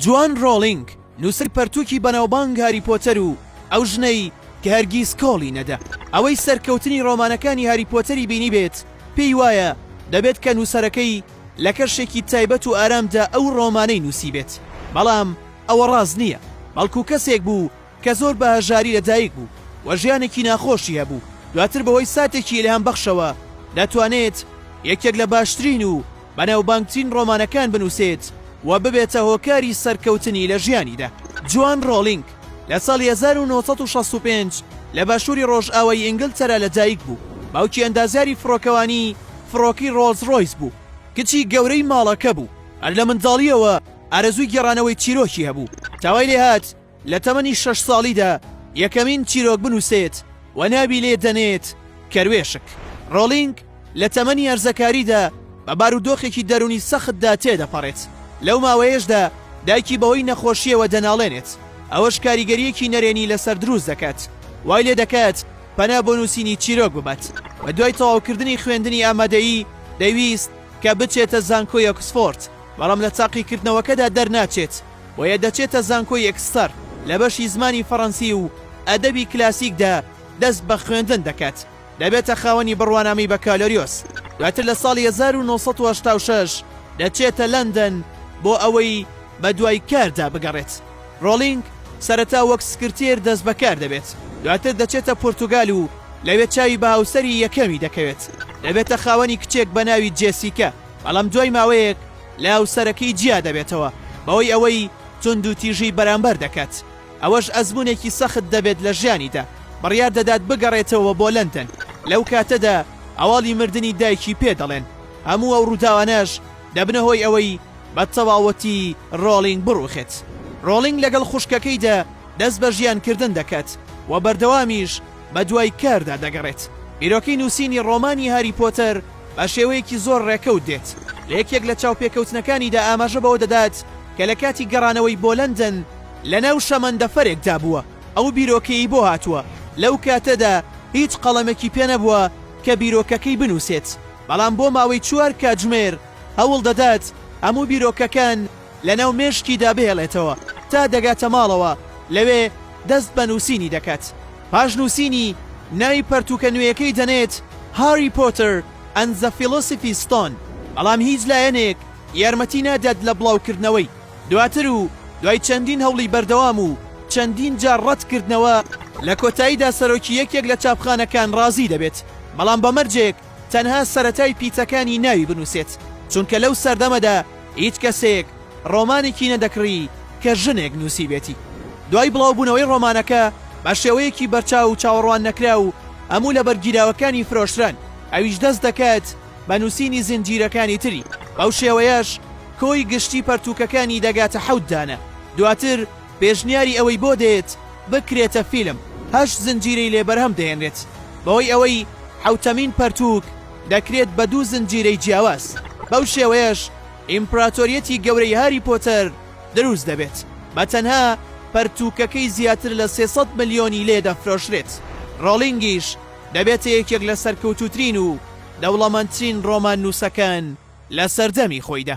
جۆن ڕۆڵینگ نووسەری پەرتووکی بەناوبانگ هاری پۆتەر و ئەو ژنەی کە هەرگیز کۆڵی نەدا، ئەوەی سەرکەوتنی ڕۆمانەکانی هاری پۆتەری بینیبێت پێی وایە دەبێت کە نووسەرەکەی لە کەشێکی تایبەت و ئارامدا ئەو ڕۆمانەی نووسیبێت، بەڵام ئەوە ڕاست نییە، بەڵکو کەسێک بوو کە زۆر بە هەژاری لە دایک بوو و ژیانێکی ناخۆشی هەبوو، دواتر بەهۆی ساتێکی ئیلهامبەخشەوە دەتوانێت یەکێک لە باشترین و بەناوبانگترین ڕۆمانەکان بنووسێت و ببێتە هۆکاری سەرکەوتنی لە ژیانیدا. جۆن ڕۆڵینگ لە ساڵی هەزار و نۆ سەد و شەست و پێنج لە باشووری ڕۆژئاوای ئینگلتەرا لە دایک بوو، باوکی ئەندازیاری فڕۆکەوانی فڕۆکەی ڕۆڵز ڕۆیس بوو، کچی گەورەی ماڵەکە بوو، هەر لە منداڵییەوە ئارەزووی گێڕانەوەی چیرۆکی هەبوو، تا وای لێهات لە تەمەنی شەش ساڵیدا یەکەمین چیرۆک بنووسێت و ناوی لێ دەنێت کەروێشک. ڕۆڵینگ لە تەمەنی هەرزەکاریدا بە بارودۆخێکی دەروونی سەختدا تێدەپەڕێت، لەو ماوەیەشدا دایکی بەهۆی نەخۆشییەوە دەناڵێنێت، ئەوەش کاریگەرییەکی نەرێنی لەسەر دروست دەکات، وای لێ دەکات پەنا بۆ نووسینی چیرۆک ببات. بەدوای تەواوکردنی خوێندنی ئامادەیی، دەیویست کە بچێتە زانکۆی ئۆکسفۆرد، بەڵام لە تاقیکردنەوەکەدا دەرناچێت، بۆیە دەچێتە زانکۆی ئێکستەر لە بەشی زمانی فەڕەنسی و ئەدەبی کلاسیکدا دەست بە خوێندن دەکات، دەبێتە خاوەنی بڕوانامەی بەکالۆریۆس، دواتر لە ساڵی هەزار و نۆ سەد و هەشتا و شەش دەچێتە لەندەن بۆ ئەوەی بەدوای کاردا بگەڕێت، ڕۆڵینگ سەرەتا وەک سکرتێر دەست بەکار دەبێت، دواتر دەچێتە پورتوگال و لەوێ چاوی بە هاوسەری یەکەمی دەکەوێت، دەبێتە خاوەنی کچێک بە ناوی جێسیکا. بەڵام دوای ماوەیەک لاوسەرەکەی جیا دەبێتەوە بەوەی ئەوەی توندوتیژی بەرامبەر دەکات، ئەوەش ئەزموونێکی سەخت دەبێت لە ژیانیدا، بڕیار دەدات بگەڕێتەوە بۆ لەندەن، لەو کاتەدا هەواڵی مردنی دایکی پێ دەڵێن، هەموو ئەو ڕووداوانەش دەبنە هۆی ئەوەی بە تەواوەتی ڕۆڵینگ بڕووخێت. ڕۆڵینگ لەگەڵ خوشکەکەیدا دەست بە ژیانکردن دەکات و بەردەوامیش بەدوای کاردا دەگەڕێت، بیرۆکەی نووسینی ڕۆمانی هاری پۆتەر، بە شێوەیەکی زۆر ڕێکەوت دێت، لە یەکێک لە چاوپێکەوتنەکانیدا ئاماژە بەوە دەدات کە لە کاتی گەڕانەوەی بۆ لەندەن لەناو شەمەندەفەرێکدا بووە، ئەو بیرۆکەیەی بۆ هاتووە، لەو کاتەدا هیچ قەڵەمێکی پێ نەبووە کە بیرۆکەکەی بنووسێت، بەڵام بۆ ماوەی چوار کاتژمێر هەوڵ دەدات هەموو بیرۆکەکان لەناو مێشکیدا بهێڵێتەوە تا دەگاتە ماڵەوە، لەوێ دەست بە نووسینی دەکات. پاش نووسینی ناوی پەرتووکە نوێیەکەی دەنێت Harry Potter and the Philosophy Stone بەڵام هیچ لایەنێک یارمەتی نادات لە بڵاوکردنەوەی دواتر و دوای چەندین هەوڵی بەردەوام و چەندین جار ڕەتکردنەوە لە کۆتاییدا سەرۆکی یەکێک لە چاپخانەکان ڕازی دەبێت بەڵام بە مەرجێک تەنها سەرەتای پیتەکانی ناوی بنوسێت، چونکە لەو سەردەمەدا هیچ کەسێک ڕۆمانێکی نەدەکڕی کە ژنێک نوسیبێتی. دوای بڵاوبونەوەی ڕۆمانەکە بە شێوەیەکی بەرچاو و چاوەڕوان نەکراو هەموو لە بەرگیراوەکانی فرۆشران، ئەویش دەست دەکات بە نوسینی زنجیرەکانی تری، بەو شێوەیەش کۆی گشتی پەرتوکەکانی دەگاتە حەوت دانە، دواتر، پێشنیاری ئەوەی بۆ دێت بکرێتە فیلم، هەشت زنجیرەی لێ بەرهەم دێنرێت، بەهۆی ئەوەی حەوتەمین پەرتووک دەکرێت بە دوو زنجیرەی جیاواز، بەو شێوەیەش ئیمپراتۆریەتی گەورەی هاری پۆتەر دروست دەبێت، بە تەنها پەرتووکەکەی زیاتر لە سێ سەد ملیۆنی لێ دەفرۆشرێت، ڕۆڵینگیش دەبێتە یەکێک لە سەرکەوتووترین و دەوڵەمەندترین ڕۆماننووسەکان لە سەردەمی خۆیدا.